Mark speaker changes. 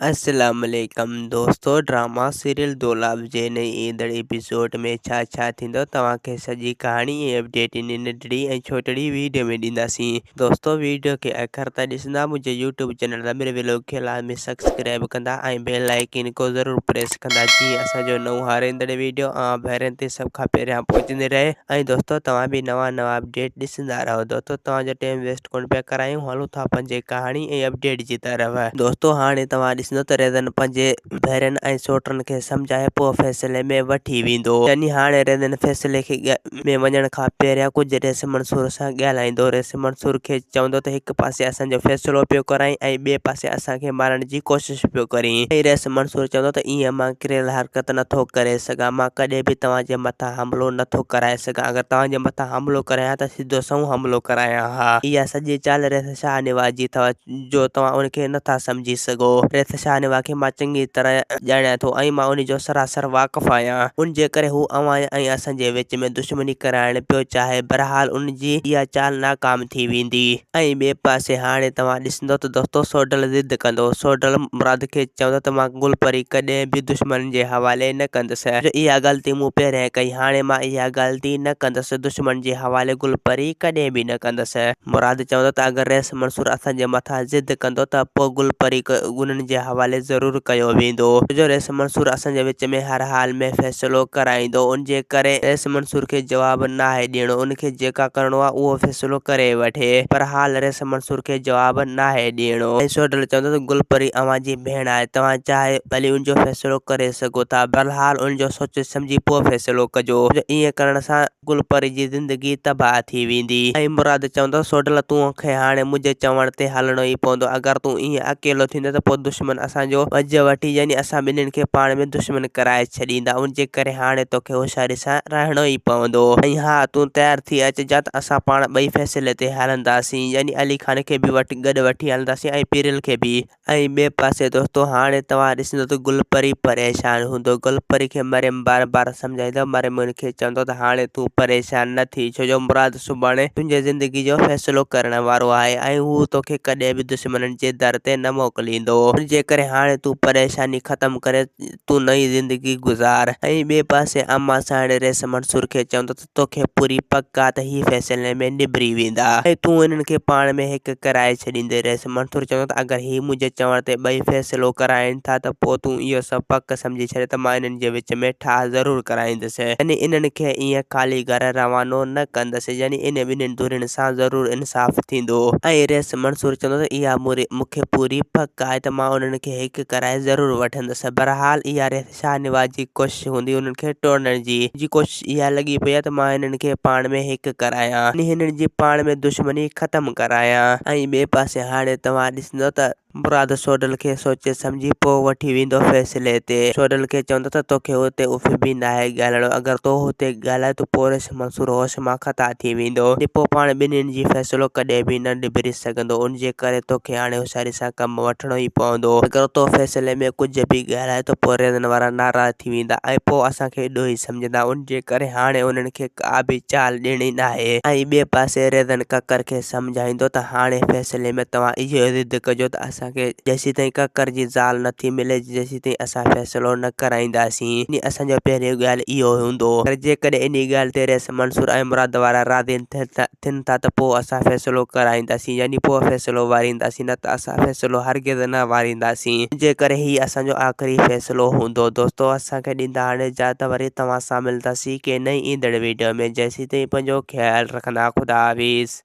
Speaker 1: السلام عليڪم دوستو ڊراما سيريل دولاب جي نئين ايندڙ ايپيسوڊ ۾ ڇا ڇا ٿيندو توهان کي سڄي ڪهاڻي ۽ اپڊيٽ انهي ننڍڙي ۽ ڇوٽڙي ويڊيو ۾ ڏينداسين دوستو ويڊيو کي اخر تائين ڏسندا منهنجي يوٽيوب چينل رميل ويلوگ کي لازمي سڪسڪرائب ڪندا ۽ بيل آئيڪين ڪو ضرور پريس ڪندا جيئن اسان جو نئون هار ايندڙ ويڊيو اوهان ڀيرن تي سڀ کان پهريان پهچندي رهي ۽ دوستو توهان به نوان نوان اپڊيٽ ڏسندا رهو دوستو توهان جو ٽيم ويسٽ ڪونه پيا ڪرايون هلون ٿا پنهنجي ڪهاڻي ۽ اپڊيٽ جي طرف دوستو هاڻي توهان ڏسندو ته ريزن پنهنجي ڀيرن ۽ سوٽن کي سمجهائي پوء فيصلي ۾ وٺي ويندو يعني هاڻي ريزن فيصلي کي ۾ وڃڻ کان پهريان ڪجهه ريس منصور سان ڳالهائيندو ريس منصور کي چوندو ته هڪ پاسي اسان جو فيصلو پيو ڪرائين ۽ ٻئي پاسي اسان کي مارڻ جي ڪوشش پيو ڪرين ۽ ريس منصور چوندو ته ائين مان ڪريل حرڪت نه ٿو ڪري سگهان مان ڪڏهن به توهان جي مٿان حملو نه ٿو ڪرائي سگهان اگر توهان جي مٿان حملو ڪريان ته جو سنئون حملو ڪرايان ها. اها سڄي چال ريس شاهه نواز جي اٿو جو توهان ان کي نه ٿا سمجهي سگهو. ريس شاهه نواز کي مان چڱي طرح ڄاڻيان ٿو ۽ مان ان جو سراسر واقف آهيان. ان جي ڪري هو اوهان ۽ اسان جي وچ ۾ دشمني ڪرائڻ پيو چاهي. بهرحال ان جي اها چال ناڪام ٿي ويندي. ۽ ٻئي پاسي هاڻي توهان ڏسندا چوندو ته دوستو سوڍل ضد ڪندو. سوڍل مراد کي چوندو ته مان گل پري ڪڏهن به دشمن جي حوالي نه ڪندس. جو اها غلطي مون پهرين ڪئي هاڻي مان اها غلطي نه ڪندس. دشمن جي حوالي گل پري ڪڏهن به نه ڪندس. مراد چوندو ته اگر رئيس منصور اسان جي مٿان ضد ڪندو ته پوء گل پري انهن جي حوالي ضرور ڪيو ويندو. ڇو جو رئيس منصور اسان جي وچ ۾ هر حال ۾ فيصلو ڪرائيندو. ان جي ڪري رئيس منصور کي جواب ناهي ڏيڻو. ان کي جيڪا ڪرڻو آهي اهو فيصلو ڪري وٺي. پر حال رئيس. ته منصور کي جواب ناهي ڏيڻو. ۽ سوڍل چوندو ته گل پري اوهان جي ڀيڻ آهي، توهان چاهي ڀلي ان جو فيصلو ڪري سگهو ٿا، بهرحال ان جو سوچي سمجهي پوء فيصلو ڪجو، ڇو جو ائين ڪرڻ سان گل پري جي زندگي تباهه ٿي ويندي. ۽ مراد چوندو سوڍل تون کي هاڻي منهنجي چوڻ تي هلڻو ئي پوندو، اگر تون ائين اڪيلو ٿيندين ته پوء دشمن اسان جو وجهه وٺي يعني اسان ٻنهين کي پاڻ ۾ دشمن ڪرائي ڇڏيندا، ان جي ڪري هاڻي توکي هوشياري سان. سان رهڻو ئي پوندو. ۽ ها تون تيار ٿي اچ جت اسان پاڻ ٻئي فيصلي تي هلنداسين يعني علي خان کي به وٺي گڏ وٺي هلنداسين ۽ پيرل کي به. ۽ ٻئي پاسي دوستو هاڻي توهان ڏسندو ته گل پري پريشان هوندو گل پري کي مريم بار بار سمجهائيندو مريم ان کي چوندو ته هاڻي تون پريشان نه ٿي ڇو جو مراد سڀاڻي تنهنجي زندگي جو فيصلو ڪرڻ وارو آهي ۽ هو توکي ڪڏهن به دشمنن جي در تي نه موڪليندو ۽ جيڪڏهن هاڻي تون پريشاني ختم ڪري تون نئين زندگي گذار. ۽ ٻئي پاسي امان ساڻي رئيس منصور کي چوندو ته توکي پوري پڪ آ ته هي فيصلي ۾ نبري ويندا ۽ تون انهن کي پاڻ ۾ هڪ ڪرائي ڇڏيندي. رئيس منصور چوندو ته اگر هي منهنجي چوڻ تي ٻئي فيصلو ڪرائين ٿا ته پوء تون اهو سو پڪ سمجهي ڇڏ ته مان انهن جي وچ ۾ ٺاهه ضرور ڪرائيندس يعني انهن کي ائين خالي گهر روانو نه ڪندس يعني انهن ٻنهي ڌرين سان ضرور انصاف ٿيندو. ۽ رئيس منصور چوندو ته اها مون کي پوري پڪ آهي ته مان انهن کي هڪ ڪرائي ضرور وٺندس. نه سهي بهرحال اها ريس شاهنواز جي ڪوشش هوندي هنن کي ٽوڙڻ جي. منهنجي ڪوشش اها لڳي پئي آهي ته مان هنن کي پاڻ ۾ هڪ ڪرايان يعني هنن جي پاڻ ۾ دشمني ختم ڪرايان. ۽ ٻئي پاسي هاڻي توهان ڏسندو ته. مراد سوڍل کي سوچي سمجهي پوء وٺي ويندو فيصلي تي سوڍل کي چوندو ته توکي هتي اڦ به ناهي ڳالهائڻو اگر تو هتي ڳالهائي ٿو پوء ريس. وقت منصور هوش مان خطا ٿي ويندو. ٽپو پاڻ ٻنين جي فيصلو ڪڏهن به نه نبيري سگهندو. ان جي ڪري توکي هاڻي هوشياري سان ڪم وٺڻو ئي پوندو. اگر تو فيصلي ۾ ڪجهه به ڳالهائين ته پوء ريزن وارا ناراض ٿي ويندا ۽ پوء اسان کي ڏوهي سمجهندا. ان جي ڪري هاڻي انهن کي ڪا به چال ڏيڻي ناهي. ۽ ٻئي پاسي ريزن ڪڪر کي سمجهائيندو ته هاڻي فيصلي ۾ توهان اهو ضد ڪجو ته اسان کي جيسيتائين ڪڪر جي زال نٿي ملي، جيتائين اسان فيصلو نه ڪرائينداسين يعني اسان جو پهريون ڳالهه اهو هوندو پر جيڪڏهن انهي ڳالهه تي رئيس منصور ۽ مراد وارا راضي نه ٿين ٿا ته پوء اسان فيصلو ڪرائينداسين يعني پوء فيصلو وارينداسين نه ته اسان فيصلو هرگز نه وارينداسين انجي ڪري هي اسان جو آخري فيصلو هوندو دوستو اسان کي ڏيندا هاڻي جا ته وري توهان سان ملنداسين ڪنهن نئين ايندڙ ويڊيو ۾ جيسيتائين پنهنجو خيال رکندا خدا حافظ.